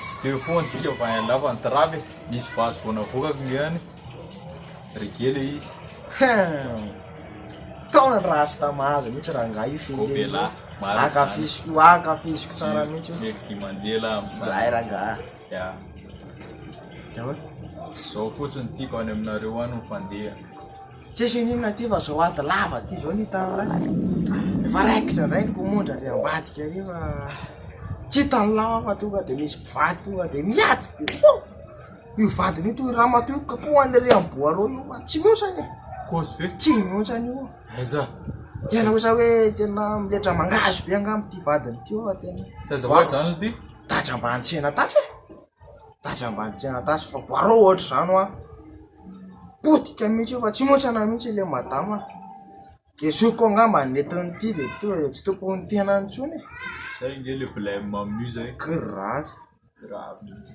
Tsy teo foana tsika fa en lava ny trap e, misy vazo vao navoakako ngiahy an, reggae le izy. Hum. Taona ny rasta mahazo mihitsy rangahy io fehiny io. Gobela, marina izany. Ankafiziko io, ankafiziko tsara mihitsy io. Mety dimanjela Zahay amin'izany. rangahy. Ya. Dia ahoana? Zao fotsiny tiako any aminareo any ny fandeha. Tsisy ininona ty fa zao ady lava ty zao ny tany lahy Efa raikitra ndray ny komondra ary ambadika ary fa tsy hitan'ny lava fa tonga dia misy mpivady tonga dia miady be oh! Io vadiny io toy ramatoa io kapohany ery amin'ny boaleo io fa tsy mihotsany e Kosy ve? Tsy mihotsany io Aiza? Tena osa hoe tena miletra mangahazo be angamba ty vadiny ty fa tena Taiza ho aiza any ty? Taitra ambany tsena taitra e Basy ambany tsy anatasy fa barao ohatra zany hoa, potika mihitsy io fa tsy mihoatra anah mihitsy le madama, de zokiko angamba nentin' ity de tonga de tsy tompony ny tenany tsony e. Zay nge le blem amin'io zay. Grave. Grave mihitsy.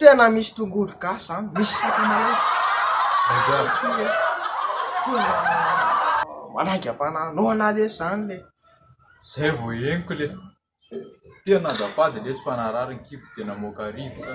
Tena misy tongolo gasy zany, misy sakamalaho. Manaingam-panahy anao ana lesy zany le. Zay vao henoko le. Tena azafady lesy fa narary ny kibo dia namoaka rivotra.